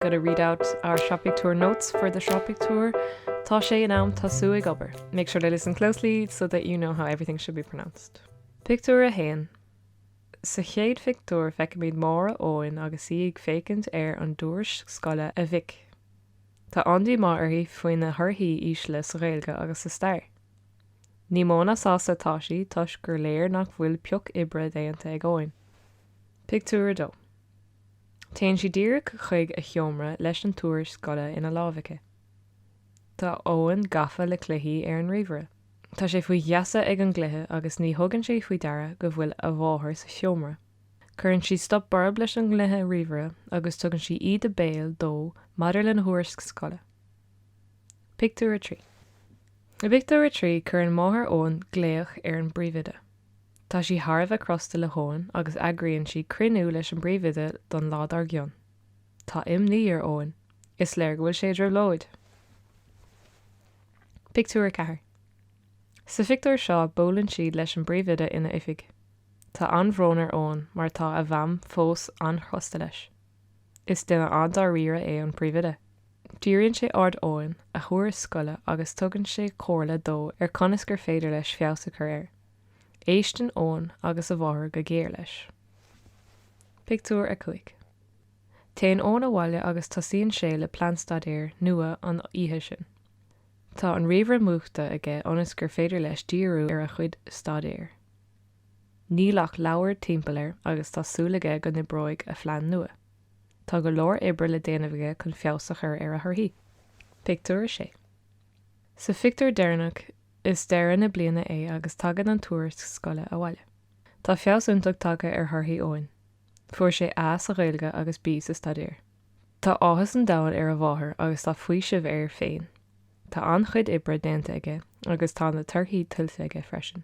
Gotta read out our Sraith Pictiúr notes for the Sraith Pictiúr Tá sé in am tosú ag obair. Make sure to listen closely so that you know how everything should be pronounced. Pictiúr 1 Sa chéad phictiúr feicimid máthair Eoin agus í ag féachaint ar an dtuairisc scoile a mhic. Tá an-díomá uirthi faoina thorthaí ísle sa Ghaeilge agus sa Stair. Ní mó ná sásta atá sí toisc gur léir nach bhfuil pioc oibre déanta ag Eoin. Pictiúr 2. Téann sí díreach chuig a sheomra leis an tuairisc scoile ina láimh aici. Tá Eoin gafa le cluichí ar an ríomhaire. Tá sé faoi gheasa ag an gcluiche agus ní thugann sé faoi deara go bhfuil a mháthair sa seomra. Cuireann sí stop borb leis an ngcluiche ríomhaire agus tugann sí íde béil dó maidir lena thuairisc scoile. Pictiúr 3 I bpictiúr a trí cuireann máthair Eoin glaoch ar an bpríomhoide. Tá sí thar a bheith crosta le hEoin agus eagraíonn sí cruinniú leis an bpríomhoide don lá dár gcionn. Tá imní ar Eoin, is léir go bhfuil sé i dtrioblóid! Pictiúr 4 Sa phictiúr seo buaileann siad leis an bpríomhoide ina oifig. Tá an-bhrón ar Eoin mar tá a mham fós an-chrosta leis. Is duine an-dáiríre é an príomhoide. Díríonn sé aird Eoin ar a thuairisc scoile agus tugann sé comhairle dó ar conas gur féidir leis feabhas a chur air. Éisteann Eoin agus a mháthair go géar leis. Pictiúr 5 Téann Eoin abhaile agus tosaíonn sé le plean staidéir nua an oíche sin. Tá an ríomhaire múchta aige ionas gur féidir leis díriú ar a chuid staidéir. Níl ach leabhair timpeall air agus tá súil aige go n-oibreoidh a phlean nua. Tá go leor oibre le déanamh aige chun feabhas a chur ar a thorthaí. Pictiúr 6. Sa phictiúr deireanach, is deireadh na bliana é agus tagann an tuairisc scoile abhaile. Tá feabhas iontach tagtha ar thorthaí Eoin. Fuair sé A sa Ghaeilge agus B sa Stair. Tá áthas an domhain ar a mháthair agus tá faoiseamh air féin. Tá an-chuid oibre déanta aige agus tá na torthaí tuillte aige freisin.